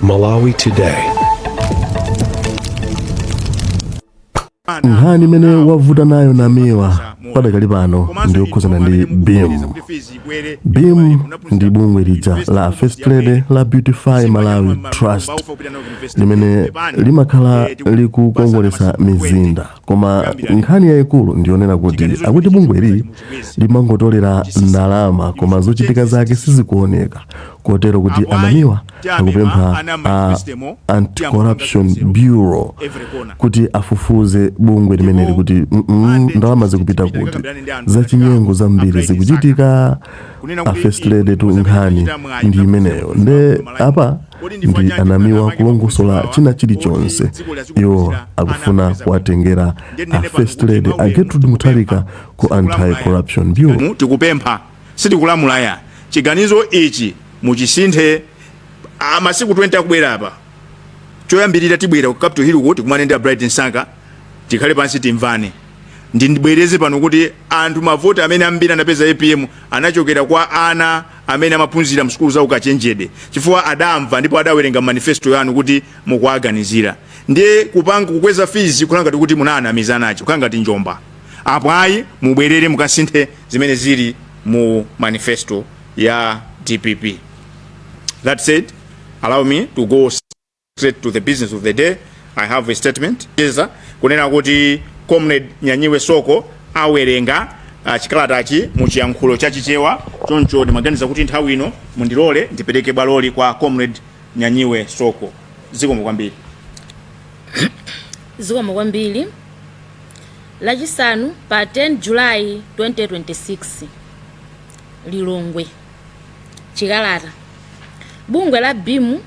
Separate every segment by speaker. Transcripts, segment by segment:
Speaker 1: Malawi
Speaker 2: Today. nkhani imene wavuta nayo namiwa padakali pano ndi yokhuzana ndi Beam Beam ndi bungwe lija la first lady la beautify malawi trust limene limakhala likukongolesa mizinda koma nkhani yayikulu ndiyonena kuti akuti bungweli limangotolera ndalama koma zochitika zake sizikuoneka kotero kuti anamiwa akupempha a anti-corruption bureau kuti afufuze bungwe limeneli kuti mm, mm, ndalama zikupita kuti zachinyengo zambiri zikuchitika a first lady tu nkhani ndi imeneyo nde apa ndi anamiwa kulongosola china chilichonse iwo akufuna kuwatengera a first lady a gertrude mutharika ku anti corruption bureau Mu-
Speaker 3: tikupempha sitikulamula ya chiganizo ichi muchisinthe ah, masiku 20 akubwera apa choyambirira tibwera ku Capital Hill kuti tikumane ndi a bright Msaka tikhale pansi timvane ndibwereze pano kuti anthu mavoti amene ambiri anapeza apm anachokera kwa ana amene amaphunzira msukulu za ukachenjede chifukwa adamva ndipo adawerenga manifesto yanu kuti mukuwaganizira ndiye kupanga kukweza fizi ukhala ngati kuti munaanamiza nacho ukhala ngati njomba apo ayi mubwerere mukasinthe zimene zili mu manifesto ya dpp that said allow me to go Straight to the business of the day, I have a statement. kunena kuti Comrade Nyanyiwe Soko awerenga uh, chikalatachi mu chiyankhulo cha Chichewa, choncho ndimaganiza kuti nthawi ino mundilole ndipereke bwaloli kwa Comrade Nyanyiwe Soko. Zikomo
Speaker 4: kwambiri. zikomo kwambiri lachisanu pa 10 julayi 2026 lilongwe chikalata bungwe la beam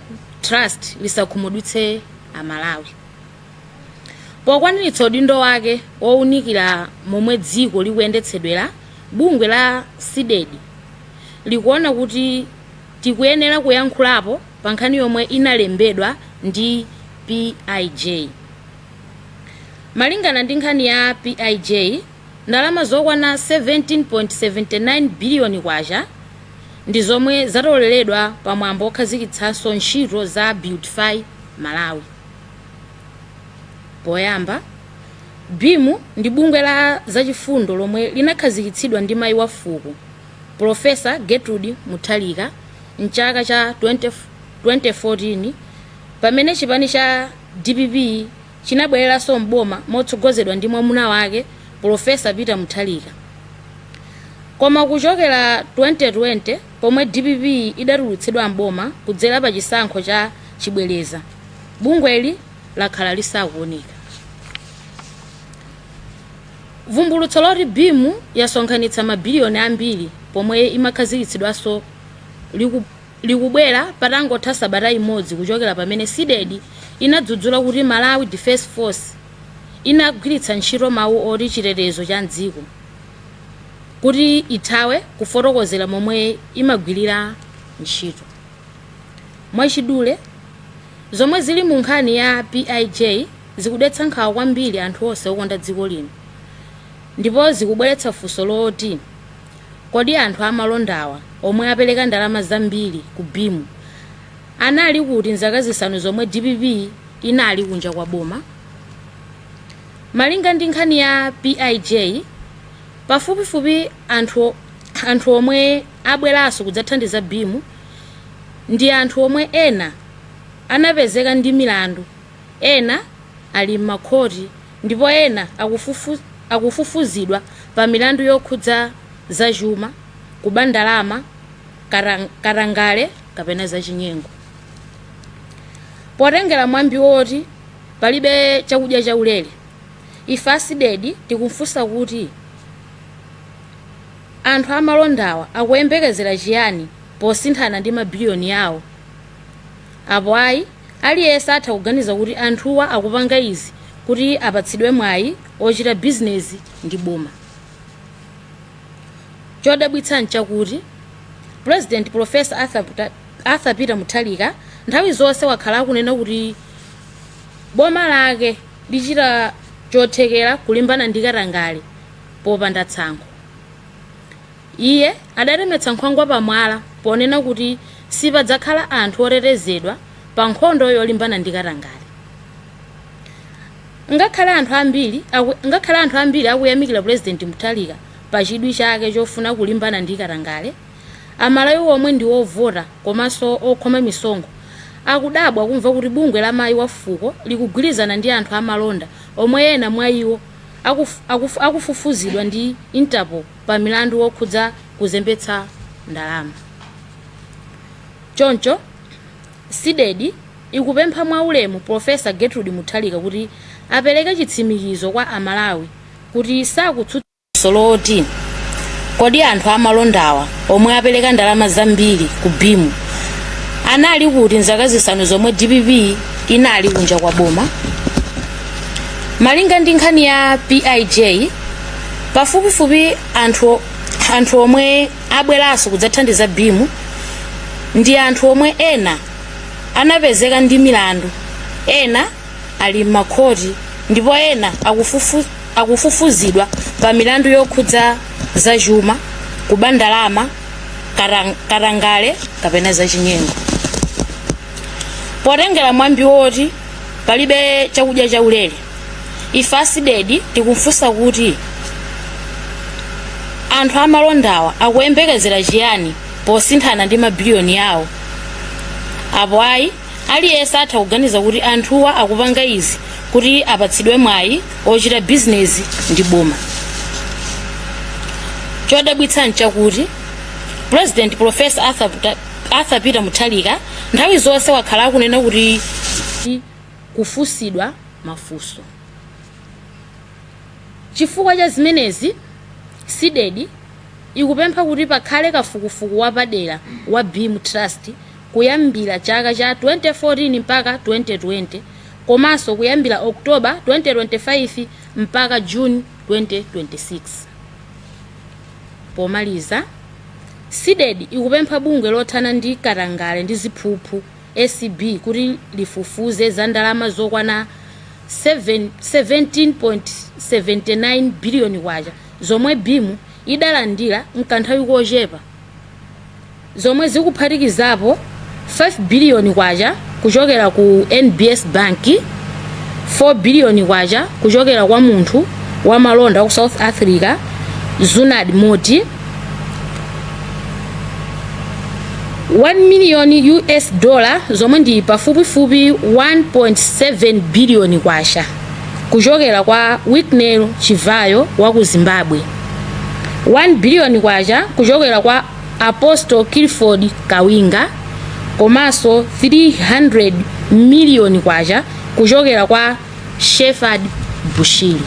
Speaker 4: trust lisakhumudwitse amalawi pokwaniritsa udindo wake wowunikira momwe dziko likuyendetsedwera bungwe la CDEDI likuona kuti tikuyenera kuyankhulapo pa nkhani yomwe inalembedwa ndi pij malingana ndi nkhani ya pij Ndalama zokwana 17.79 biliyoni kwacha ndi zomwe zatoleredwa pa mwambo wokhazikitsanso ntchito za Beautify Malawi. Poyamba, Beam ndi bungwe la zachifundo lomwe linakhazikitsidwa ndi mayi wa fuko, Pulofesa Gertrude Mutharika m'chaka cha 2014 pamene chipani cha dpp, chinabwereranso m'boma motsogozedwa ndi mwamuna wake Polofesa Peter Mutharika. Koma kuchokera 2020 pomwe dpp idatulutsidwa m'boma kudzera pa chisankho cha chibwereza, bungweli lakhala lisakuoneka. Vumbulutso loti Beam yasonkhanitsa mabiliyoni ambiri pomwe imakhazikitsidwanso liku likubwera patangotha sabata imodzi kuchokera pamene Cdedi inadzudzula kuti Malawi Defence Force inagwiritsa ntchito mawu oti chitetezo cha dziko kuti ithawe kufotokozera momwe imagwirira ntchito. Mwachidule, zomwe zili mu nkhani ya PIJ zikudetsa nkhawa kwambiri anthu onse okonda dziko lino ndipo zikubweretsa funso loti, Kodi anthu amalondawa omwe apereka ndalama zambiri ku Beam anali kuti mzaka zisanu zomwe dpp inali kunja kwa boma? Malinga ndi nkhani ya PIJ, pafupifupi anthu omwe abweranso kudzathandiza Beam ndi anthu omwe ena anapezeka ndi milandu ena ali mmakhoti. ndipo ena akufufuzidwa pa milandu yokhudza zachuma, kuba ndalama, katangale kapena zachinyengo. Potengera mwambi woti palibe chakudya chaulere, ife a Cdedi tikufunsa kuti anthu amalondawa akuyembekezera chiyani posinthana ndi mabiliyoni awo? Apo ayi, aliyense atha kuganiza kuti anthuwa akupanga izi kuti apatsidwe mwayi ochita bizinezi ndi boma. Chodabwitsa nchakuti, Pulezidenti Polofesa Arthur Peter Mutharika nthawi zonse wakhala akunena kuti boma lake lichita chothekera kulimbana ndi katangale popanda tsankho. Iye adatemetsa nkhwangwa pa mwala ponena kuti sipadzakhala anthu otetezedwa pa nkhondo yolimbana ndi katangale. Ngakhale anthu ambiri akuyamikira Pulezidenti Mutharika pa chidwi chake chofuna kulimbana ndi katangale, Amalawi omwe ndi ovota komanso okhoma misonkho akudabwa kumva kuti bungwe la Mayi wa Fuko likugwirizana ndi anthu amalonda omwe ena mwa iwo akufufuzidwa ndi Interpol. pa milandu wokhudza kuzembetsa ndalama. Choncho, CDEDI ikupempha mwaulemu Professor Gertrude Mutharika kuti apereke chitsimikizo kwa a Malawi kuti sakutsutsa zoti, Kodi anthu amalondawa omwe apereka ndalama zambiri ku Beam anali kuti m'zaka zisanu zomwe dpp inali kunja kwa boma? Malinga ndi nkhani ya PIJ, pafupifupi anthu omwe abweranso kudzathandiza Beam ndi anthu omwe ena anapezeka ndi milandu ena ali m'makhoti ndipo ena akufufuzidwa pa milandu yokhudza zachuma kuba ndalama katangale kapena zachinyengo potengera mwambi woti palibe chakudya chaulere ife a CDEDI tikufunsa kuti anthu amalondawa akuyembekezera chiyani posinthana ndi mabiliyoni yawo apo ayi aliyense atha kuganiza kuti anthuwa akupanga izi kuti apatsidwe mwayi ochita bizinezi ndi boma chodabwitsa nchakuti president professor arthur peter mutharika nthawi zonse wakhala akunena kuti kufunsidwa mafunso. Chifukwa cha zimenezi, CDEDI ikupempha kuti pakhale kafukufuku wapadera wa Beam Trust kuyambira chaka cha 2014 mpaka 2020 komanso kuyambira October 2025 mpaka June 2026. Pomaliza, CDEDI ikupempha bungwe lothana ndi katangale ndi ziphuphu, acb kuti lifufuze za ndalama zokwana K17.79 biliyoni zomwe Beam idalandira mkanthawi kochepa zomwe zikuphatikizapo K5 biliyoni kuchokera ku NBS Bank, K4 biliyoni kuchokera kwa munthu wa malonda wa ku South Africa, Zunaid Moti. 1 million US dollar zomwe ndi pafupifupi 1.7 billion kwacha kuchokera kwa Wicknell Chivayo wa ku Zimbabwe 1 billion kwacha kuchokera kwa Apostle Clifford Kawinga komanso 300 million kwacha kuchokera kwa Shepherd Bushiri.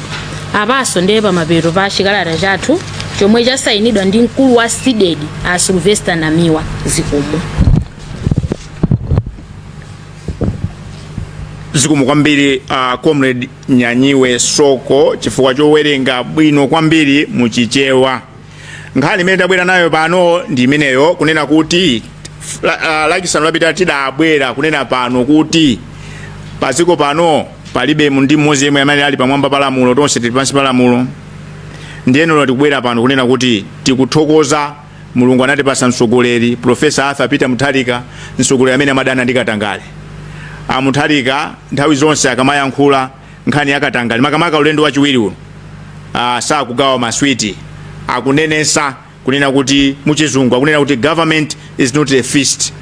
Speaker 4: Apanso ndiye pamapeto pa chikalata chathu chomwe chasayinidwa ndi mkulu wa CDEDI a Sylvester Namiwa zikomo.
Speaker 3: zikomo kwambiri a comrade nyanyiwe soko chifukwa chowerenga bwino kwambiri muchichewa nkhani imene tabwera nayo pano ndi imeneyo kunena kuti la- ah, lachisanu lapita tidabwera kunena pano kuti padziko pano palibe mu- ndi mmodzi yemwe amene ali pamwamba pa lamulo tonse tili pansi pa lamulo ndiyeno tikubwera pano kunena kuti tikuthokoza mulungu anatipasa mtsogoleri profesa arthur peter mutharika mtsogoleri amene amadana ndi katangale amutharika nthawi zonse akamayankhula nkhani ya katangale makamaka ulendo wachiwiri uno uh, sakugawa maswiti akunenesa kunena kuti muchizungu akunena kuti government is not a feast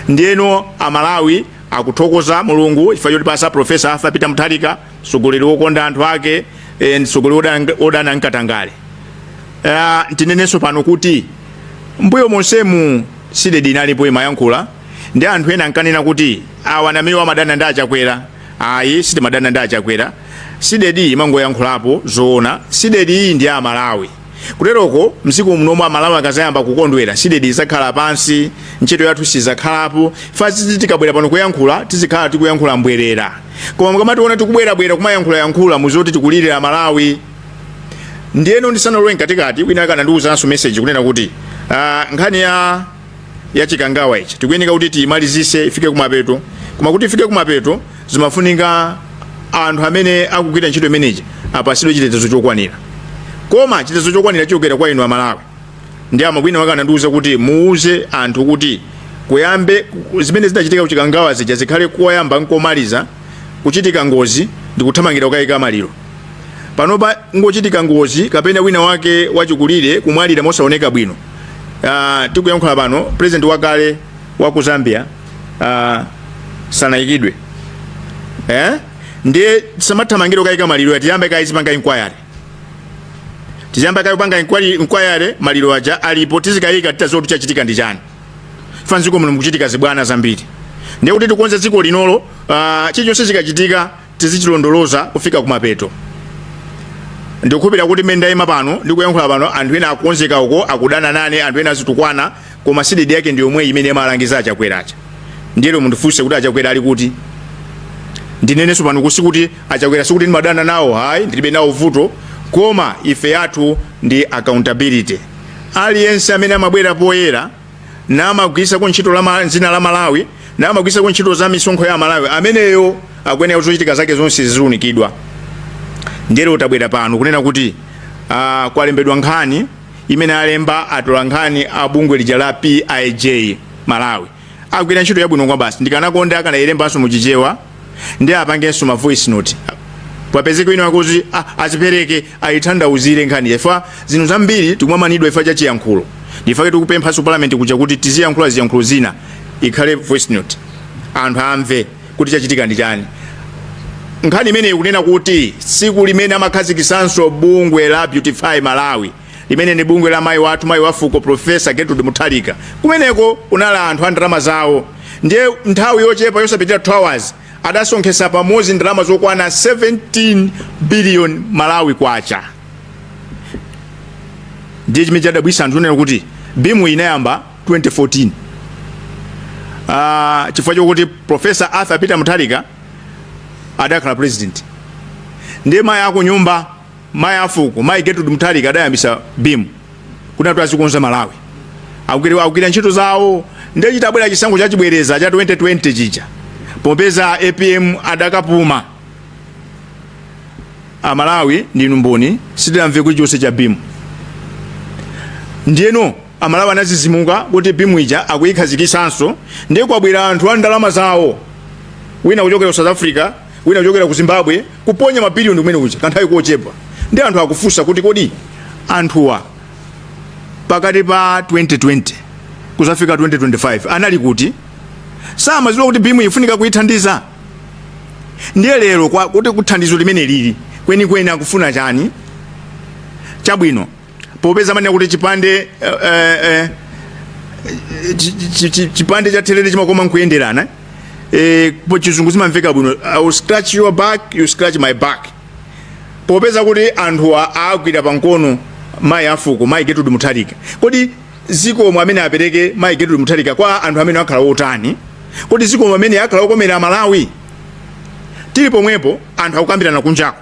Speaker 3: ndiyeno amalawi akuthokoza mulungu chifukwa chotipasa profesa arthur peter mutharika mtsogoleri wokonda anthu ake eh, mtsogoleri odana- odana nkatangale uh, tinenenso pano kuti mbuyo monsemu cdedi inalipo imayankhula ndi anthu ena ankanena kuti awa namiwa amadana ndi achakwera ayi sitimadana ndi achakwera cdedi imangoyankhulapo zoona cdedi ndi amalawi kuteroko tsiku lomwe amalawi akazayamba kukondwera cdedi izakhala pansi ntchito yathu sizakhalapo chifukwa tikabwera pano kuyankhula tizikhala tikuyankhula mbwerera koma mukamationa tikubwerabwera kumayankhulayankhula muziti tikulirira amalawi ndiyeno ndisanalowe mkatikati wina wake anandiwuzanso message kunena kuti ah, nkhani ya chikangawa ichi tikuyeneka kuti tiyimalizise ifike kumapeto koma kuti ifike kumapeto zimafunika anthu amene akugwira ntchito imeneyi apasidwe chitetezo chokwanira koma chitetezo chokwanira chochokera kwa inu amalawi ndiye munthu wina wake anandiuza kuti muuze anthu kuti kuyambe zimene zinachitika kuchikangawa zija zikhale koyamba nkomaliza kuchitika ngozi ndikuthamangira kukayika maliro panopa kungochitika ngozi kapena wina wake wachikulire kumwalira mosaoneka bwino uh, tikuyankhula pano president wakale wa ku zambia uh, sanayikidwe eh? ndiye tisamathamangire kukayika maliro ayi tiyambe kaye tipanga inquiry tiyambe kaye kupanga inquiry, inquiry maliro aja alipo tizikayika titaziwa kuti chachitika ndi chani chifukwa mziko muno mukuchitika zibwana zambiri ndiye kuti tikonze dziko linolo uh, chilichonse chikachitika tizichilondoloza kufika kumapeto ndikukhulupirira kuti mmene ndayima pano ndikuyankhula pano anthu ena akonzeka uko akudana nane anthu ena azitukwana koma cdedi yake ndi yomweyo imene imalangiza achakwera aja ndiyeno mundifunse kuti achakwera ali kuti ndinenenso pano kuti achakwera sikuti ndimadana nawo ayi ndilibe nawo vuto koma ife yathu ndi accountability aliyense amene amabwera poyera namagwirisako ntchito la ma- dzina la malawi namagwirisako ntchito za misonkho ya amalawi ameneyo akuyenera kuti zochitika zake zonse ziziunikidwa ndiyeno tabwera pano kunena kuti uh, kwalembedwa nkhani imene alemba atola nkhani a bungwe lija la pij malawi agwira ntchito yabwino kwabasi ndikanakonda akanayilembanso muchichewa ndiye apangenso ma voice note papezeke wina wakuti ah, azipereke ayithandauzire nkhani chifukwa zinthu zambiri tikumamanidwa chifukwa cha chiyankhulo nchifake tikupemphanso parliament kuja kuti tiziyankhula ziyankhulo zina ikhale voice note anthu amve kuti chachitika ndi chani nkhani imeneyi kunena kuti tsiku limene amakhazikisanso bungwe la beautify malawi limene ndi bungwe la mayi wathu mayi wa fuko profesa Gertrude Mutharika kumeneko kunali anthu a ndalama zawo ndiye nthawi yochepa yosapitira 2 hours adasonkhesa pamodzi ndalama zokwana 17 billion malawi kwacha ndiye chimene chadabwisa anthu nkunena kuti bimu inayamba 2014 Ah, chifukwa chokuti professor arthur peter mutharika adakhala president ndiye mayi akunyumba mayi afuko mayi Gertrude Mutharika adayambisa BIM kuti anthu azikonza Malawi akugwira akugwira ntchito zawo ndiye chitabwera chisankho cha chibwereza cha 2020 chija popeza APM adakapuma a Malawi ndinu mboni sitidamve chilichonse cha BIM ndiyeno amalawi anazizimuka kuti BIM ija akuyikhazikisanso ndiye kwabwera anthu a ndalama zawo wina kuchokera ku South Africa wina kuchokera ku zimbabwe kuponya mabiliyoni kumene kuja kanthawi kochepa ndiye anthu akufunsa kuti kodi anthuwa pakati pa 2020 kuzafika 2025 anali kuti samaziwa kuti bimu ifunika kuithandiza ndiye lero kuti thandizo limeneli kwenikweni akufuna chani chabwino popeza amanena kuti chipande eh, eh, eh, chi- chi- chi- chipande cha therere chimakoma nkuyenderana eh, po chizungu zimamveka bwino i will scratch your back you scratch my back popeza kuti anthuwa agwira pamkono mayi afuko mayi getrude mutharika kodi zikomo amene apereke mayi getrude mutharika kwa anthu amenewa akhala otani kodi zikomo ameneyo akhala okomera malawi tili pomwepo anthu akukambirana kunjako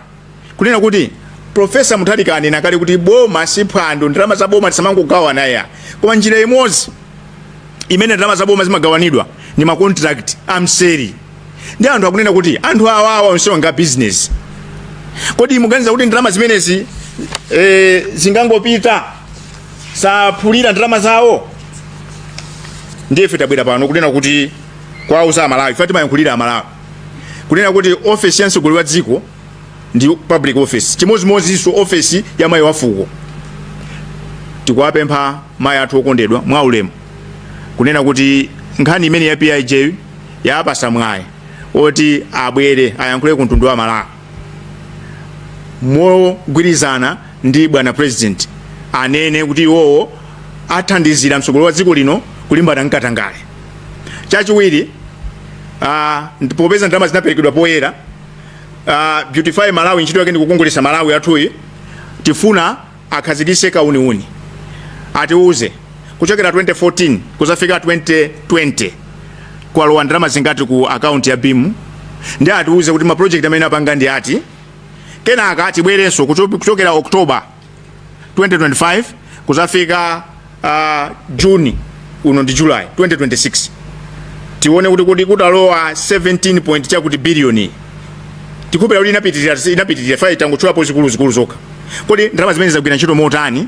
Speaker 3: kunena kuti profesa mutharika anena kale kuti boma si phwando ndalama za boma tisamangogawana ya koma njira imodzi imene ndalama za boma zimagawanidwa ndi makontrakt amseri ndiye anthu akunena kuti anthu awawa onsewa ndi a bizinesi kodi muganiza kuti ndalama zimenezi eh, zingangopita saphulanso ndalama zawo ndiye ife tabwera pano kunena kuti kuwauza amalawi ife timayankhulira amalawi kunena kuti ofesi ya mtsogoleri wa dziko ndi public office chimodzimodzinso ofesi ya mayi wafuko tikuwapempha mayi athu okondedwa mwa ulemu kunena kuti nkhani imeneyi ya pij yawapasa mwayi oti abwere ayankhule ku mtundu wa malawi mogwirizana ndi bwana president anene kuti iwowo athandizira mtsogoleri wa dziko lino kulimbana nkatangale Chachiwiri, uh, popeza ndalama zinaperekedwa poyera uh, Beautify Malawi ntchito yake ndi kukongolesa Malawi athuyi tifuna akhazikise kauniuni atiuze kuchokera 2014 kudzafika 2020 kwalowa ndalama zingati ku akaunti ya BIM ndi atiuze kuti ma project amene apanga ndi ati kenaka atibwerenso kuchokera October 2025 kudzafika uh, June uno ndi July 2026 tione kuti kuti kutalowa 17 point chakuti biliyoni tikupeza kuti inapitirira inapitirira chifukwa tangotchulapo zikulu zikulu zokha kodi ndalama zimenezi zagwira ntchito motani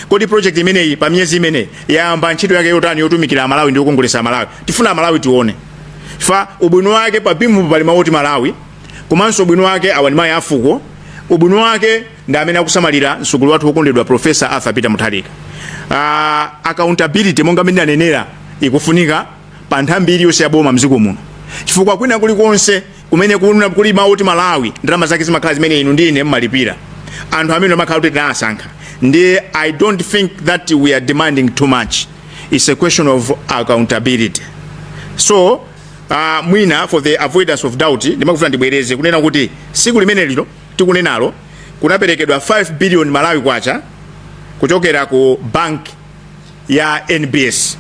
Speaker 3: kodi project imeneyi pa miyezi imeneyi yayamba ntchito yake yotani yotumikira amalawi ndi yokongolesa amalawi tifuna amalawi tione chifukwa ubwino wake pa BIM pali mawu oti Malawi komanso ubwino wake awa ndi mayi afuko ubwino wake ndi amene akusamalira mtsogoleri wathu wokondedwa profesa arthur peter mutharika uh, accountability monga mmene anenera ikufunika pa nthambi iliyonse ya boma mdziko muno chifukwa kwina kulikonse kumene kuna- kuli mawu oti malawi ndalama zake zimakhala zimene inu ndi ine timalipira anthu amene amakhala kuti tinawasankha ndiye i don't think that we are demanding too much its a question of accountability so uh, mwina for the avoidance of doubt ndimakufuna ndibwereze kunena kuti tsiku limenelilo tikunenalo kunaperekedwa 5 billion Malawi Kwacha kuchokera ku bank ya NBS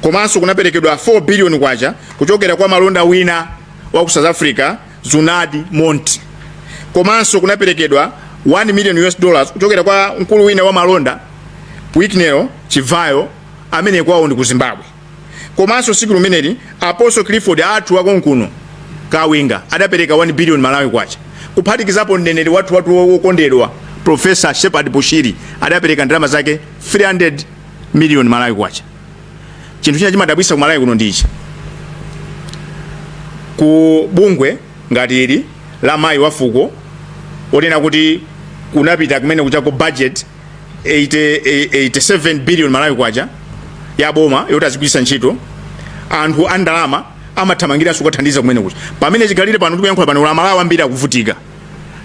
Speaker 3: komanso kunaperekedwa 4 billion Kwacha kuchokera kwa malonda wina wa ku South Africa Zunaid Moti komanso kunaperekedwa 1 million US dollars kuchokera kwa mkulu wina wa malonda Wicknell Chivayo amene kwawo ndi ku Zimbabwe. komanso tsiku limeneli apostle clifford athu akonkuno kawinga adapereka 1 billion malawi kwacha kuphatikizapo mneneri wathu wathu wokondedwa prophet shepherd bushiri adapereka ndalama zake 300 million malawi kwacha chinthu china chimadabwisa ku malawi kuno ndichi ku bungwe ngati ili la mayi wafuko onena kuti kunapita kumene kuchaku budget 87 billion malawi kwacha ya boma yoti azigwiritsa ntchito anthu a ndalama amathamangiranso kukathandiza kumene kucha pamene chikhalire pano tikuyankhula pano amalawi ambiri akuvutika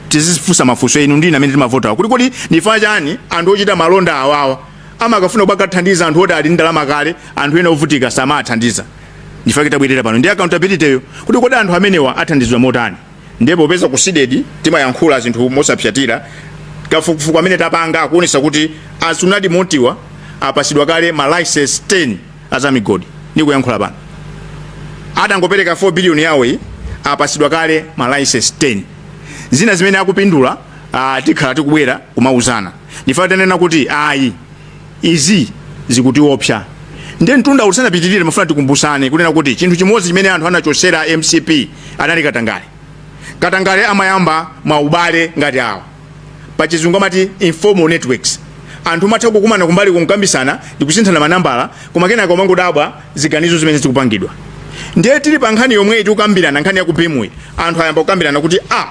Speaker 3: tizifunsa mafunso inu ndine amene timavotawa kuti kodi ndi chifukwa chani anthu ochita malonda awawa amakafuna kumakathandiza anthu oti ali ndi ndalama kale anthu ena ovutika samathandiza ndi chifukwa chake tabwerera pano ndi accountability yo kuti kodi anthu amenewa athandizidwa motani ndiye popeza ku CDEDI timayankhula zinthu mosapsatira kafukufuku amene tapanga akuonesa kuti a Zunaid Motiwa apasidwa kale ma license 10 azamigodi ndikuyankhula pano adangopereka 4 billion yawo iyi apasidwa kale ma license 10 zina zimene akupindula ah, tikhala tikubwera kumauzana ndifa tanena kuti ayi izi zikutiopsa ndiye mtunda usanapitirire mmafuna tikumbusane kunena kuti chinthu chimodzi chimene anthu anachosera mcp anali katangale katangale amayamba maubale ngati awa pachizungu amati informal networks anthu amatha kukumana kumbali kukambisana ndikusinthana manambala koma kenaka umangodabwa ziganizo zimene zikupangidwa ndiye tili pa nkhani yomweyi tikukambirana nkhani ya ku BEAM yi anthu ayamba kukambirana kuti a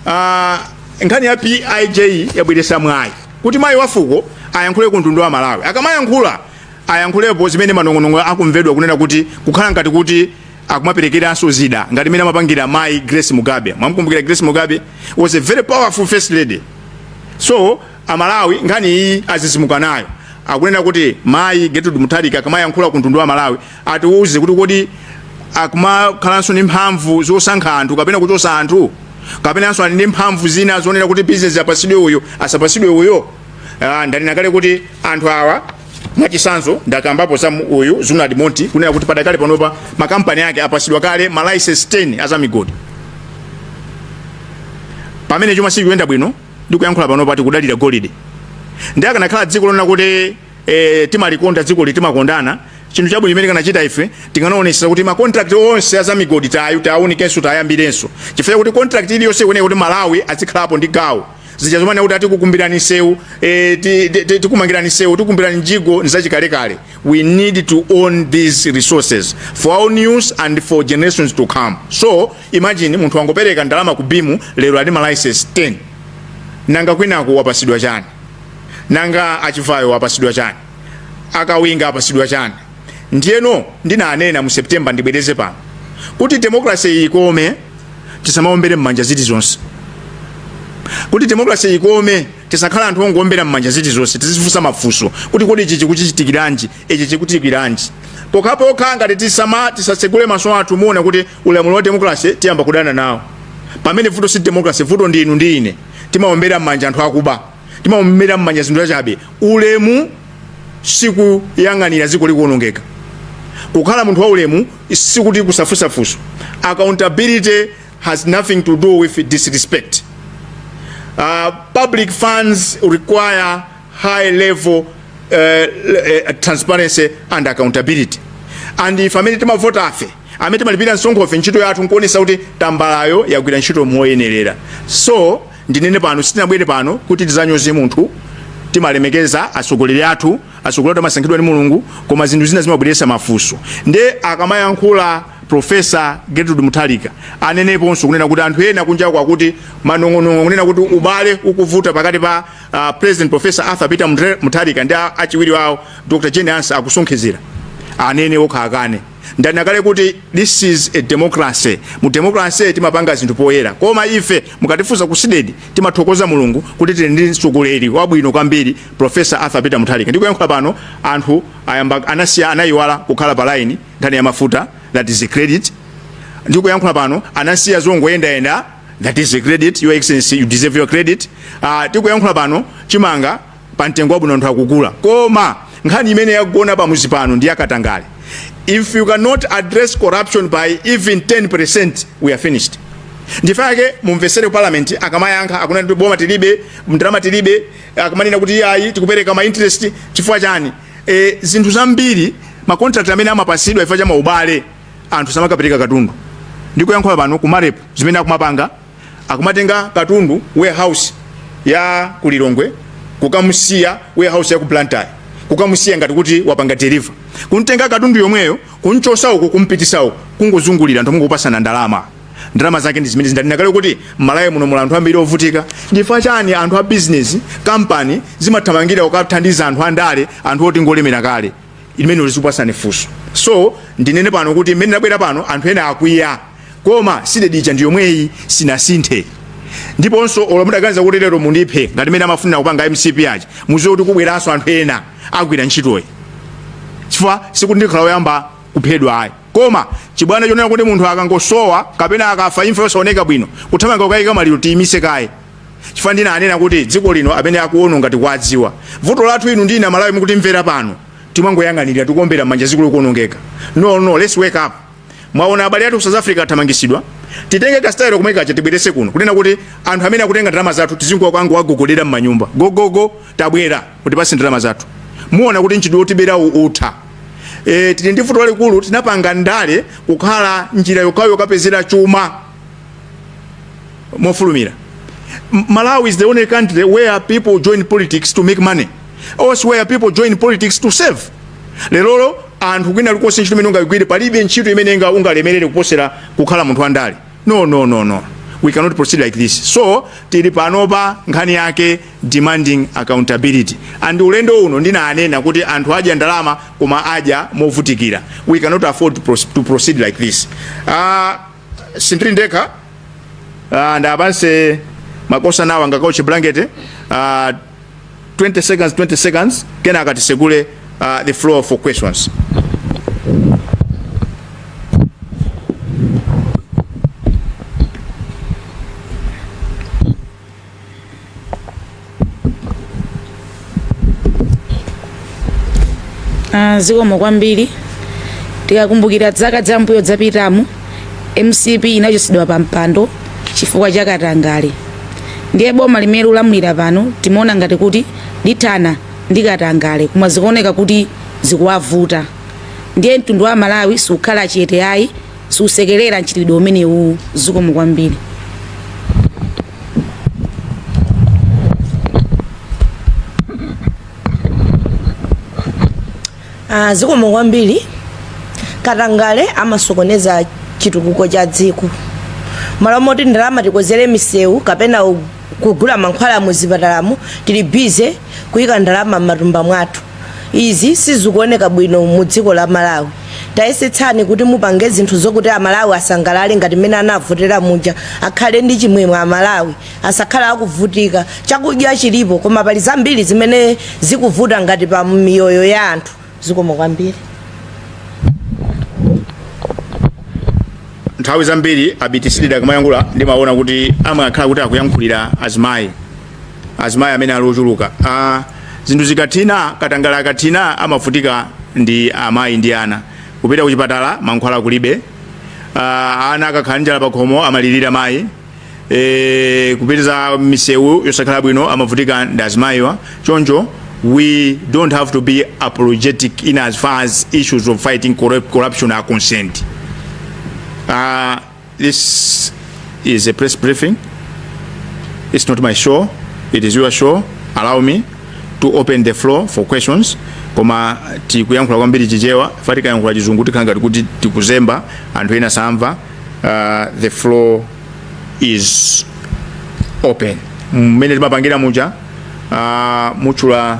Speaker 3: ah, nkhani ya pij yabweresa mwayi kuti mayi wafuko ayankhule ku mtundu wa malawi akamayankhula ayankhulepo zimene manong'onong'o akumvedwa kunena kuti kukhala ngati kuti akumaperekeranso zida ngati mmene amapangira mayi grace mugabe mwamukumbukira grace mugabe was a very powerful first lady so amalawi nkhani iyi azizimuka nayo akunena kuti mayi gertrude mutharika akamayankhula ku mtundu wa malawi atiwuze kuti kodi akumakhalanso ndi mphamvu zosankha anthu kapena kuchosa anthu kapenanso ali ndi mphamvu zina zonena kuti bizinesi apasidwe uyu asapasidwe uyo Ah, ndanena kale kuti anthu awa mwachisanzo ndakambapo za mu- uyu Zunaid Moti kunena kuti padakali panopa makampani ake apasidwa kale ma license 10 azamigodi pamene chuma sikuyenda bwino ndikuyankhula panopa tikudalira golide ndiye likanakhala dziko lonena kuti eh, timalikonda dzikoli timakondana chinthu chabwino chimene tikanachita ife tikanaonesa kuti makontrakt onse azamigodi tayu tiaunikenso tiyambirenso chifukwa chakuti kontrakt iliyonse ikuyenera kuti malawi azikhalapo ndi gawo zija zomanena kuti a tikukumbirani msewu eh, ti- ti- ti- tikumangirani msewu tikukumbirani mjigo nzachikalekale we need to own these resources for our use and for generations to come so imagine munthu wangopereka ndalama ku BEAM lero ali ma license 10 nanga kwinako wapasidwa chani nanga a Chivayo wapasidwa chani a Kawinga apasidwa chani ndiyeno ndinanena mu september ndibwereze pano kuti demokrase ikome tisamaombere mmanja zilizonse kuti demokrase ikome tisakhale anthu ongoombera mmanja zilizonse tizifunsa mafunso kuti kodi ichi chikuchitikiranji ichi chikuchitikiranji pokhapokha ngati tisama tisatsegule maso athu muona kuti ulamuliro wa demokrase tiyamba kudana nawo pamene vuto si demokrase vuto ndi inu ndi ine timaombera mmanja anthu akuba timaombera mmanja zinthu zachabe ulemu sikuyang'anira dziko likuonongeka kukhala munthu wa ulemu sikuti kusafunsa funso accountability has nothing to do with disrespect uh, public funds require high level uh, uh, transparency and accountability and ife amene timavota ife amene timalipira msonkho ife ntchito yathu nkuonesa kuti tambalayo yagwira ntchito moyenerera so ndinene pano sitinabwere pano kuti tizanyoze munthu timalemekeza atsogoleri athu atsogoleri athu amasankhidwa ndi mulungu koma zinthu zina zimabweretsa mafunso nde akamayankhula profesa gertrude mutharika aneneponso kunena kuti anthu ena kunjaku akuti manong'onong'o kunena kuti ubale ukuvuta pakati pa uh, president profesa arthur peter Muthe- mutharika ndi a- achiwiri wawo dr jane ansah akusonkhezera anene okha akane Ndanena kale kuti this is a democracy. Mu democracy timapanga zinthu poyera. Koma ife mukatifunsa ku Cdedi timathokoza Mulungu kuti tili ndi mtsogoleri wabwino kwambiri Professor Arthur Peter Mutharika. Ndikuyankhula pano anthu ayamba anasiya anayiwala kukhala pa line nkhani ya mafuta that is a credit. Ndikuyankhula pano anasiya zongoyendayenda that is a credit. Your Excellency you deserve your credit. Uh, tikuyankhula pano chimanga pa mtengo wabwino anthu akugula koma nkhani imene yagona pamuzi pano ndi yakatangale if you cannot address corruption by even 10% we are finished ndi chifukwa chake mumvesere ku parliament akamayankha akunena kuti boma tilibe ndalama tilibe akamanena kuti iye ayi tikupereka ma interest chifukwa chani e, zinthu zambiri ma contract amene amapasidwa chifukwa cha maubale anthu samakapereka katundu ndikuyankhula pano ku marep zimene akumapanga akumatenga katundu warehouse ya ku lilongwe kukamusiya warehouse ya ku blantyre kukamusiya ngati kuti wapanga deliver kumtenga katundu yomweyo kumchosa uku kumpitisa uku kungozungulira anthu nkungopasana ndalama ndalama zake ndi zimene ndanena kale kuti mmalawi muno muli anthu ambiri ovutika nchifukwa chani anthu a business company zimathamangira kukathandiza anthu andale anthu oti ngolemera kale imene ulizikupasani funso so ndinene pano kuti mmene ndabwera pano anthu ena akwiya koma cdedi ija ndi yomweyi sinasinthe ndiponso olo mudaganiza kuti lero mundiphe ngati mmene amafunira kupanga mcp aja muziwe kuti kubweranso anthu ena agwira ntchitoyi chifukwa sikuti ndikhala oyamba kuphedwa ayi koma chibwana chonena kuti munthu akangosowa kapena akafa imfa yosaoneka bwino kuthamanga kukayika maliro tiyimise kaye chifukwa ndinanena kuti dziko lino amene akuononga tikuwadziwa vuto lathu inu ndi ine amalawi mukutimvera pano timangoyang'anira tikuombera manja dziko likuonongeka no no let's wake up mwaona abale athu ku south africa athamangisidwa titenge kasitayiro komwe kaja tibwerese kuno kunena kuti anthu amene akutenga ndalama zathu tizingokawagogodera m'manyumba gogogo tabwera tipaseni ndalama zathu muona kuti nchidwe otibera utha e, tili ndi vuto lalikulu tinapanga ndale kukhala njira yokhayo yokapezera chuma mofulumira malawi is the only country where people join politics to make money elsewhere people join politics to serve lerolo anthu kwina kulikonse ntchito imene ungagwire palibe ntchito imene unga- ungalemerere kuposera kukhala munthu wandale no no no no we cannot proceed like this so tili panopa nkhani yake demanding accountability and ulendo uno ndinanena kuti anthu adya ndalama koma adya movutikira we cannot afford to proce- to proceed like this uh, sindiri ndekha uh, ndi abwanso makosa nawo angakauche blanket uh, 20 seconds 20 seconds kenaka tisekule uh, the floor for questions
Speaker 1: Ah, zikomo kwambiri tikakumbukira zaka zambuyo zapitamu mcp inachotsedwa pa mpando chifukwa cha katangale ndiye boma limene likulamulira pano timaona ngati kuti lithana ndi katangale koma zikuoneka kuti zikuwavuta ndiye mtundu wa malawi sukhala chete ayi susekerera mchitidwe umenewu zikomo kwambiri
Speaker 5: Ah, zikomo kwambiri katangale amasokoneza chitukuko cha dziko malo moti ndalama tikonzere misewu kapena u- kugula mankhwala mu zipatalamu tili busy kuyika ndalama m'matumba mwathu Izi sizikuoneka bwino mu dziko la Malawi. Tayesetsani kuti mupange zinthu zokuti a Malawi asangalale ngati mmene anavotera muja. Akhale ndi chimwemwe a Malawi. Asakhale akuvutika. Chakudya chilipo koma pali zambiri zimene zikuvuta ngati pa miyoyo ya anthu. Zikomo
Speaker 3: kwambiri. nthawi zambiri abiti Sidik akamayankhula ndimaona kuti amakhala kuti akuyankhulira azimayi azimayi amene ali ochuluka ah, zinthu zikathina katangale akathina amavutika ndi amayi ndi ana kupita kuchipatala mankhwala kulibe ah, ana akakhala ndi njala pakhomo amalirira mayi e, kupita misewu yosakhala bwino amavutika ndi azimayiwa choncho we don't have to be apologetic in as far as issues of fighting corrup- corruption are concerned uh, This is a press briefing. It's not my show. It is your show. Allow me to open the floor for questions. Koma tikuyankhula kwambiri chichewa, chifukwa tikayankhula chizungu tikhala ngati kuti tikuzemba anthu ena samva. Uh, the floor is open. Mmene timapangira muja uh, mutchula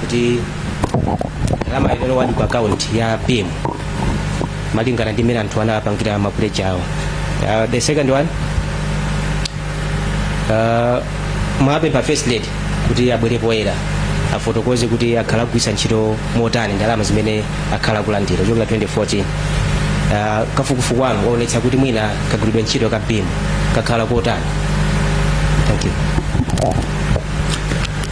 Speaker 6: kuti ndalama inalowadi ku akaunti ya beam malingana ndi mmene anthu anapangira mapuleji awo uh, the second one uh, mwapempha first lady kuti abwere poyera afotokoze kuti akhala akugwiritsa ntchito motani ndalama zimene akhala akulandira kuchokera 2014 Ah, kafukufuku wanu waonetsa kuti mwina kagwiridwe ntchito ka beam kakhala kotani thank you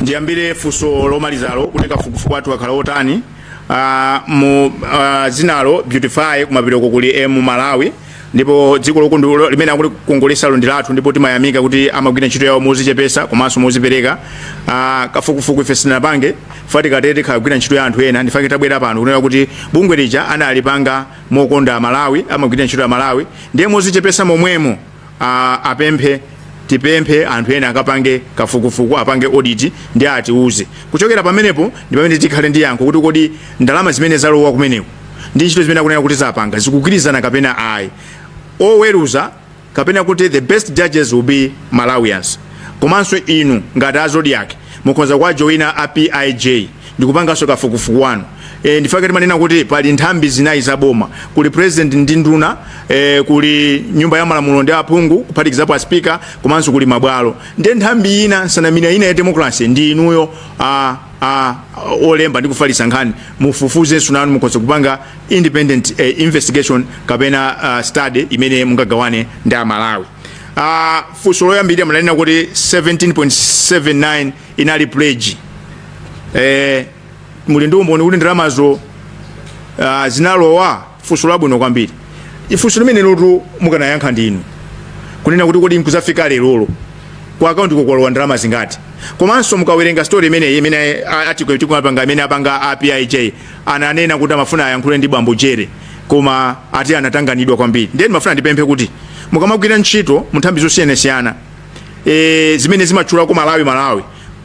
Speaker 3: ndiyambire funso lomalizalo kuti kafukufuku wathu wakhala wotani Ah, mu ah, dzinalo beautify kumapetoko kuli m malawi ndipo dziko lokondalo limene akulikongoletsalo ndi lathu ndipo timayamika kuti amagwira ntchito yawo mozichepesa komanso mozipereka ah, kafukufuku ife sitinapange fa tikatero tikagwira ntchito ya anthu ena ndifake tabwera pano kunena kuti bungwe lija analipanga mokonda amalawi amagwira ntchito ya malawi ndiye mozichepesa momwemo ah, apemphe tipemphe anthu ena akapange kafukufuku apange audit ndi atiuze kuchokera pamenepo ndi pamene tikhale ndi yankho kuti kodi ndalama zimene zalowa kumeneko ndi ntchito zimene akunena kuti zapanga zikugwirizana kapena ayi oweruza kapena kuti the best judges will be malawians komanso inu ngati azodiac mukhoza kuwajoina a pij ndikupanganso kafukufuku wanu e, ndifake timanena kuti pali nthambi zinayi za boma kuli president ndi nduna e, kuli nyumba ya malamulo ndi aphungu kuphatikizapo aspika komanso kuli mabwalo ndiye nthambi ina nsanamira ina ya democracy ndi inuyo a olemba ndi kufalitsa nkhani mufufuzenso nanu mukhoza kupanga independent eh, investigation kapena uh, study imene mungagawane ndi amalawi uh, funso loyambirira munanena kuti 17.79 inali pledge eh, muli ndi umboni kuti ndalamazo uh, zinalowa Funso labwino kwambiri funso limenelotu mukanayankha ndinu kunena kuti kodi nkuzafika lero ku akauntiko kwalowa ndalama zingati komanso mukawerenga story imene article tikumapanga imene apanga apij ananena kuti amafuna ayankhule ndi bambo jere koma akuti anatanganidwa kwambiri ndiye ndimafuna ndipemphe kuti mukamagwira ntchito munthambi zosiyanasiyana e, zimene zimatchulako malawi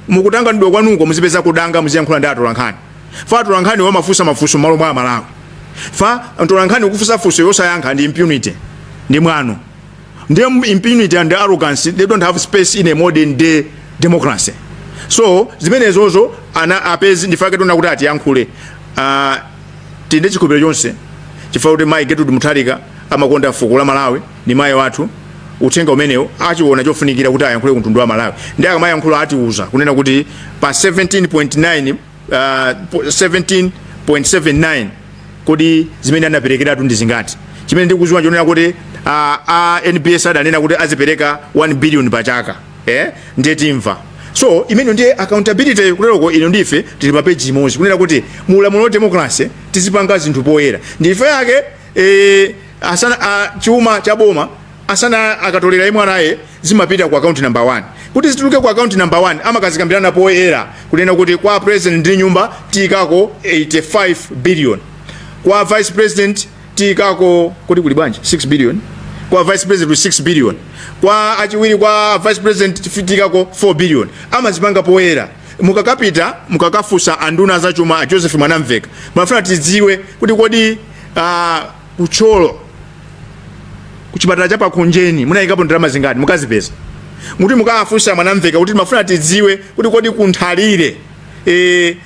Speaker 3: mukutanganidwa kwanuko muzipezako danga muziyankhula ndi atolankhani fa atolankhaniwa amafunsa mafunso mmalo mwa amalawi fa atolankhaniwo kufunsa funso osayankha ndi impunity ndi mwano ndi impunity and arrogance they don't have space in a modern day democracy so zimenezozo ana apezi ndifake tona kuti atiyankhule uh, tinde chikhulupiriro chonse chifukwa kuti mayi gertrude mutharika amakonda fuko la malawi ndi mayi wathu uthenga umenewu achiona chofunikira kuti ayankhule ku mtundu wa malawi ndi akamayankhula atiuza kunena kuti pa 17.9 uh, po- 17.79 kodi zimene anaperekeratu ndi zingati chimene ndikuziwa chonena kuti uh, a nbs adanena kuti azipereka 1 billion pa chaka eh? ndiye timvanso imene ndiye accountability kuteroko inu ndi ife tili pa peji imodzi kunena kuti mu ulamuliro wa democracy tizipanga zinthu poyera ndi ife yake eh, asana a, chuma cha boma asana akatolera a MRA zimapita ku akaunti namba 1 kuti zituluke ku akaunti namba 1 amakazikambirana poyera kunena kuti kwa president ndi nyumba tiyikako 85 billion kwa vice president tiyikako kuti kuli bwanji 6 billion kwa vice president kuli 6 billion kwa achiwiri kwa vice president tiyikako 4 billion amazipanga poyera mukakapita mukakafunsa a nduna a zachuma a joseph mwanamveka timafuna tidziwe kuti kodi uh, ku thyolo ku chipatala cha pa khonjeni munayikapo ndalama zingati mukazipeza muti mukawafunse mwanamveka kuti timafuna tidziwe kuti kodi ku nthalire e,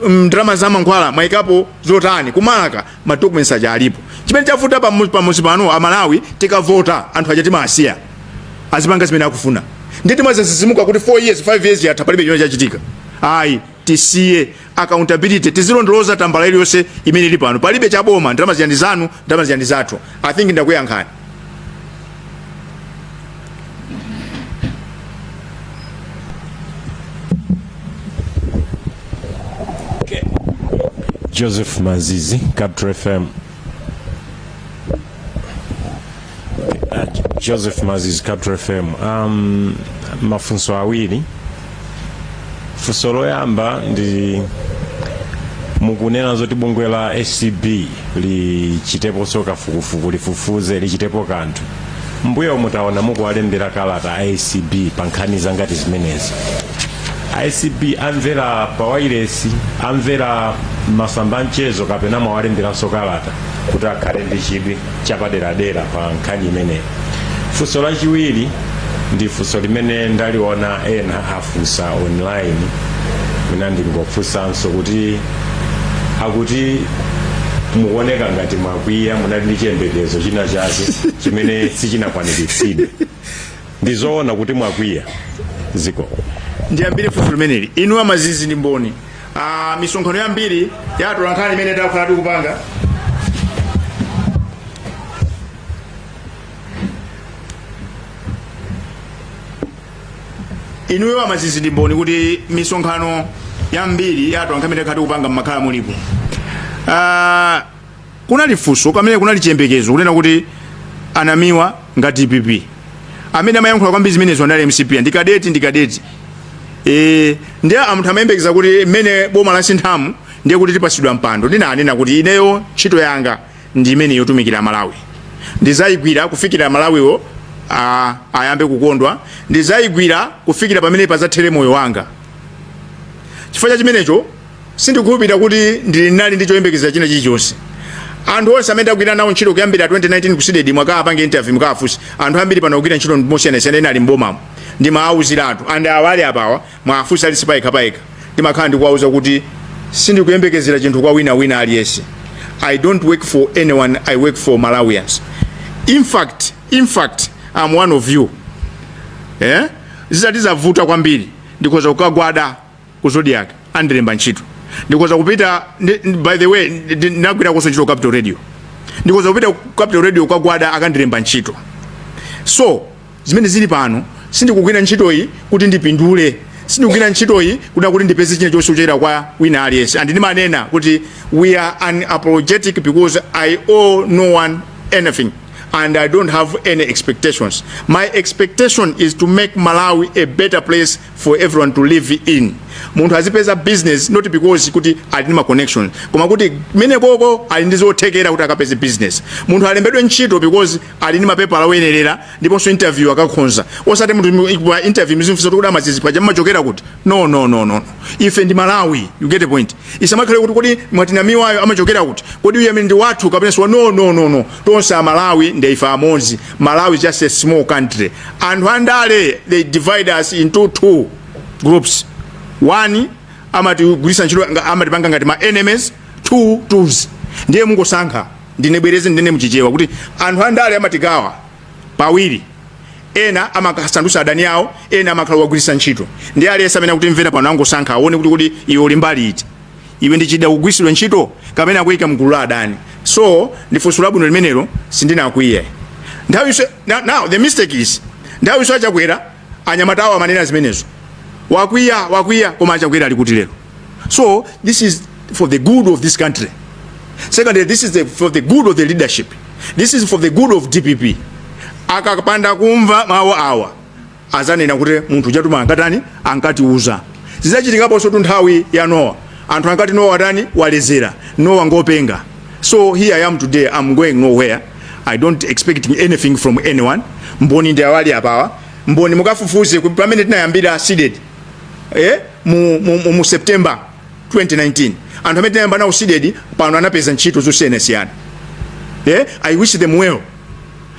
Speaker 3: ndalama za mankhwala mwayikapo zotani kumalaka ma documents aja alipo chimene chavuta pamu- pamuzi pano amalawi tikavota anthu aja timawasiya azipanga zimene akufuna ndi timadzadzidzimuka kuti 4 years 5 years yatha palibe chimene chachitika ayi tisiye accountability tizilondoloza tambala iliyonse imene ili pano palibe cha boma ndalama zija ndi zanu ndalama zija ndi zathu i think ndakuyankhani
Speaker 7: joseph mazizi capital fm joseph mazizi capital fm um, mafunso awiri funso loyamba ndi mukunena zoti bungwe la acb lichiteponso kafukufuku lifufuze lichitepo kanthu mbuyomu taona mukuwalembera kalata acb pa nkhani za ngati zimenezi acb amvera pawailesi amvera masamba a mchezo kapena mwawalemberanso kalata kuti akhale ndi chidwi chapaderadera pa nkhani imeneyi funso lachiwiri ndi funso limene ndaliona ena afunsa online mwina ndingofunsanso kuti akuti mukuoneka ngati mwakwiya munali ndi chiyembekezo china chake chimene sichinakwaniritsidwe ndi zoona kuti mwakwiya zikomo ndiyambire
Speaker 3: funso limeneli inu a mazizi ndi mboni ah, misonkhano yambiri ya atolankhani imene takhala tikupanga inuyo amazizi ndi mboni kuti misonkhano yambiri ya atolankhani imene takhala tikupanga mmakhala mulipo Ah, kunali funso pamene kunali chiyembekezo kunena kuti a Namiwa ngati dpp amene amayankhula kwambiri zimenezo anali mcp ndi kadeti ndi kadeti Eh, ndiye anthu amayembekeza kuti mmene boma lasinthamu ndiye kuti tipasidwa mpando ndinanena kuti ineyo ntchito yanga ndi imene yotumikira Malawi ndizayigwira kufikira Malawiwo a- ayambe kukondwa ndizayigwira kufikira pamene pazathere moyo wanga chifukwa cha chimenecho sindikukhulupirira kuti ndinali ndi choyembekezera china chilichonse anthu onse amene ndagwira nawo ntchito kuyambira 2019 ku CDEDI mwaka mupange interview mukawafunse anthu ambiri pano akugwira ntchito mosiyanasiyana ena ali mbomamo ndimawauziratu and awa ali apawa muwafunse aliyense payekha payekha ndimakhala ndikuwauza kuti sindikuyembekezera chinthu kwa wina wina aliyese i don't work for anyone i work for malawians in fact in fact am one of you eh? zitati zavuta kwambiri ndikhoza kukagwada ku zodiac andilembe ntchito ndikhoza kupita ndi- ndi- by the way ndi- ndi- ndinagwirakonso ntchito ku capital radio ndikhoza kupita ku capital radio kukagwada akandilemba ntchito so zimene zili pano sindikugwira ntchitoyi kuti ndipindule sindikugwira ntchitoyi kuti akuti ndipeze china chilichonse kuchokera kwa wina aliyense and ndimanena kuti we are unapologetic because i owe no one anything and i don't have any expectations my expectation is to make malawi a better place for everyone to live in munthu azipeza business not because kuti ali ndi ma connection koma kuti mwina poti ali ndi zothekera kuti akapeze business munthu alembedwe ntchito because ali ndi mapepala oyenerera ndiponso interview akakhonza osati munthu pa interview muzimfunsa kuti amazizi paja mmachokera kuti no no no no ife ndi amalawi you get the point isamakhale kuti kodi mwati Namiwayo amachokera kuti kodi uyu amene ndi wathu kapena siwa no no no no tonse amalawi ndi ife amodzi malawi is just a small country anthu andale they divide us into two groups one amatigwiritsa ntchito nga- amatipanga ngati ma enemies two tools ndiye mungosankha ndi- ndibwereze ndinene mchichewa kuti anthu andale amatigawa pawiri ena amawasandusa adani awo ena amakhala akuwagwirisa ntchito ndiye aliyense amene akutimvera pano angosankha aone kuti kuti iwe uli mbali iti iwe ndichida chogwirisidwa ntchito kapena akuyika mgulu la adani so ndifunso labwino limenelo sindinakwiye now, now the mistake is nthawi yonse achakwera Anyamata awo amanena zimenezo. Wakwiya, wakwiya koma achakwera ali kuti lero. So this is for the good of this country. Secondly, this is the, for the good of the leadership. This is for the good of DPP. Akapanda kumva mawu awa azanena kuti munthu ujatu ma ankatani ankatiuza. Zinachitikaponsotu nthawi ya Nowa. anthu ankati nowa watani walezera nowa ngopenga so here i am today i'm going nowhere i don't expect anything from anyone mboni ndi awa ali apawa mboni mukafufuze ku- pamene tinayambira cdedi eh, mu, mu, mu, mu september 2019 anthu amene tinayamba nawo cdedi pano anapeza ntchito zosiyanasiyana eh, i wish them well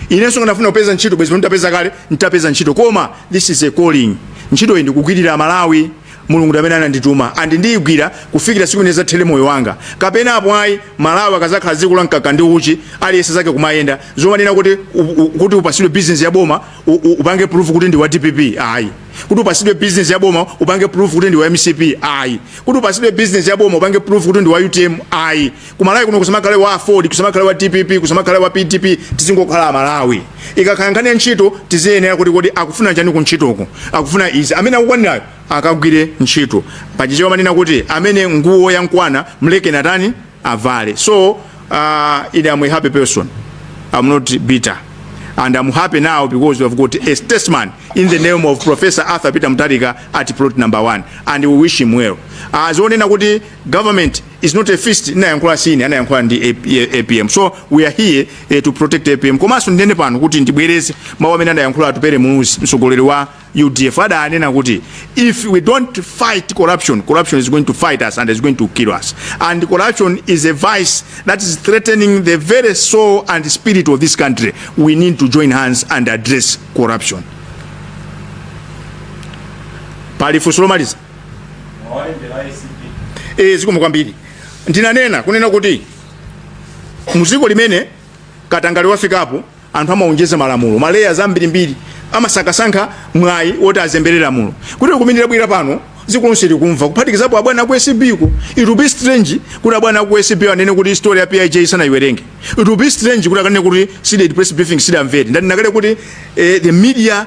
Speaker 3: inenso ndafuna kupeza ntchito bwezi ndapeza kale nditapeza ntchito koma this is a calling ntchito iyi ndikugwirira malawi Mulungu ndi amene anandituma and ndiyigwira kufikira tsiku limene lidzathere moyo wanga kapena apo ayi. Malawi akazakhala dziko la mkaka ndi uchi aliyense zake kumayenda. Zomanena kuti kuti upasidwe business ya boma upange prove kuti ndiwa dpp ayi. Kuti upasidwe business ya boma upange prove kuti ndiwa mcp ayi. Kuti upasidwe business ya boma upange prove kuti ndiwa utm ayi. kumalawi kuno kusamakhale wa aford kusamakhale wa dpp kusamakhale wa pdp tizingokhala amalawi ikakhala nkhani ya ntchito tiziyenera kuti kodi akufuna chani ku ntchitoko akufuna izi amene akukwanirayo akagwire ntchito pachichewa amanena kuti amene nguwo yamkwana mlekeni atani avale so uh, ine am a happy person am not bitter and I'm happy now because we have got a statesman in the name of Professor Arthur Peter Mutharika at plot number one and we wish him well. Zonena kuti government is not a feast anayankhula sine anayankhula ndi apm so we are here eh, to protect apm komanso ndinene pano kuti ndibwereze mawu amene anayankhula atupere muluzi mtsogoleri wa udf adanena kuti if we don't fight corruption corruption is going to fight us and is going to kill us and corruption is a vice that is threatening the very soul and spirit of this country we need to join hands and address corruption pali funso lomaliza e, zikomo kwambiri ndinanena kunena kuti muziko limene katangale wafikapo anthu amaonjeza malamulo ma layers ambirimbiri amasakasaka mwayi woti azembere lamulo kuti kuminira bwira pano dziko lonse likumva kuphatikizapo abwana aku acb ku it will be strange kuti abwana aku acb anene kuti story ya pij sanaiwerenge it will be strange kuti akanene kuti cdedi press briefing sadamvere ndanena kale kuti eh, the media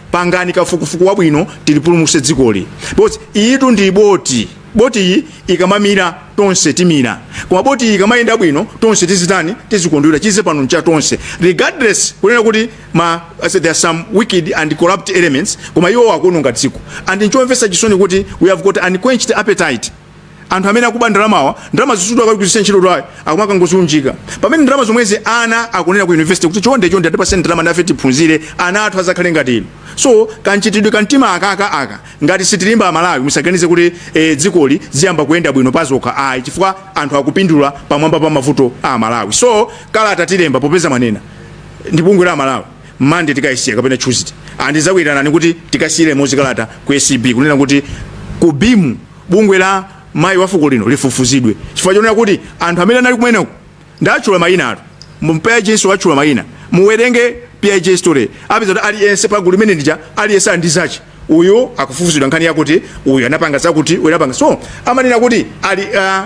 Speaker 3: pangani kafukufuku wabwino tilipulumuse dzikoli because iyitu ndi boti boti iyi ikamamira tonse timira koma boti iyi ikamayenda bwino tonse tizitani tizikondwera chize pano ncha tonse regardless kunena kuti much as there are some wicked and corrupt elements koma iwo akuononga dziko and nchomvetsa chisoni kuti we have got unquenched appetite anthu amene akuba ndalamawa ndalamazi sikuti akugwiritsa ntchito ayi akumakangoziunjika pamene ndalama zomwezi ana akunena ku university kuti chonde chonde atipaseni ndalama nafe tiphunzire ana athu azakhale ngati inu so kanchitidwe ka mtima akaka aka ngati sitilimba amalawi musaganize kuti e, dzikoli ziyamba kuyenda bwino pazokha ayi chifukwa anthu akupindula pamwamba pa mavuto a amalawi so kalata tilemba popeza mwanena ndi bungwe la amalawi mande tikayisiya kapena tuesday and tizakuyitanani kuti tikasiyire limodzi kalata ku acb kunena kuti ku bimu bungwe la mayi wa fuko lino lifufuzidwe chifukwa chonena kuti anthu amene anali kumeneko ndatchula mayina atu pij so atchula mayina muwerenge pij story mupeza kuti aliyense pagulu limene lija aliyense ali ndi zache uyu akufufuzidwa nkhani yakuti uyu anapanga zakuti uyu anapanga so amanena kuti ali uh,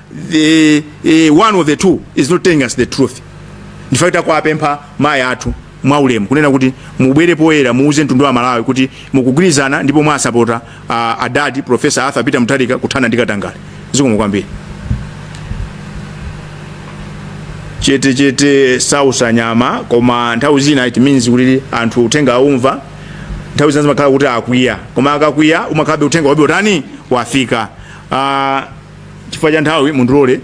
Speaker 3: either one of the two is not telling us the truth in fact takwapempha mayi athu mwaulemu kunena kuti mubwere poyera muuze mtundu wa malawi kuti mukugwirizana ndipo mwasapota uh, adadi professor arthur peter mutharika kuthana ndi katangale zikomo kwambiri chete chete sausa nyama koma nthawi zina it means kuti anthu uthenga aumva nthawi zina zimakhala kuti akwiya koma akakwiya umakhalabe uthenga wabe watani wafika uh, chifukwa cha nthawi mundilole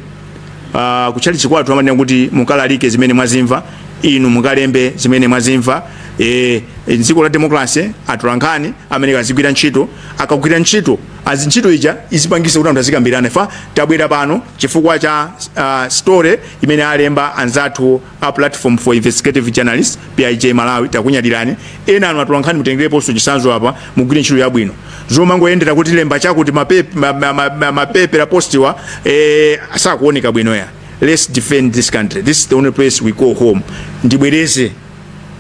Speaker 3: uh, kutchalitchi kwathu amanena kuti mukalalike zimene mwazimva inu mukalembe zimene mwazimva e, e, dziko la demokrase atolankhani amene akamagwira ntchito akagwira ntchito azi ntchito ija izipangisa kuti anthu azikambirana ifeyo tabwera pano chifukwa cha uh, story imene alemba anzathu A Platform for Investigative Journalism, PIJ Malawi, takunyadilani. Ena anu atolankhani mutengeleponso chisanzo apa mugwire ntchito yabwino. Zomangoyendera kuti lemba chakuti ma paper ma, ma, ma, ma, ma paper poster wa eh sakuoneka bwino ya. Let's defend this country. This is the only place we call home. Ndibwereze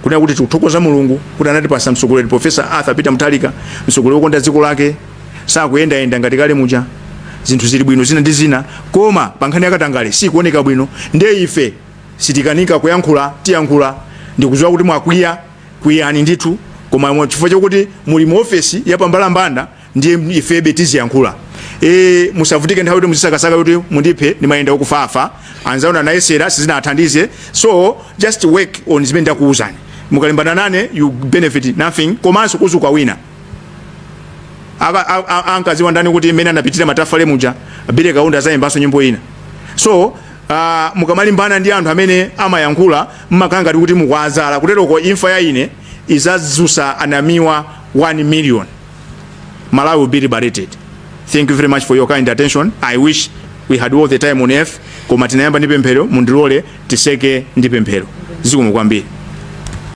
Speaker 3: kuna kuti tikuthokoza Mulungu kuti anatipasa mtsogoleri Professor Arthur Peter Mutharika, mtsogoleri wokonda dziko lake, sakuyendayenda ngati kale muja. Zinthu zili bwino zina ndi zina, koma pankhani yakatangale sikuoneka bwino. Ndiye ife sitikanika kuyankhula tiyankhula ndikuziwa kuti mwakwiya kwiyani ndithu koma mwa- chifukwa chokuti muli mu ofesi ya pambalambanda ndiye ifebe tiziyankhula e, musavutike nthawi kuti muzisakasaka kuti mundiphe ndimayenda okufafa anzanu anayesera sizinathandize so just work on zimene ndakuwuzani mukalimbana nane you benefit nothing komanso kuzazuka wina Aka- a- a- ankaziwa ndani kuti mmene anapitira matafale muja billy kaunda azayimbanso nyimbo ina so Uh, mukamalimbana ndi anthu amene amayankhula mmakhala ngati kuti mukwazala kuteroko imfa ya ine izazusa anamiwa 1 million malawi will be liberated thank you very much for your kind attention i wish we had all the time on earth koma tinayamba ndi pemphero mundilole tiseke ndi pemphero zikomo kwambiri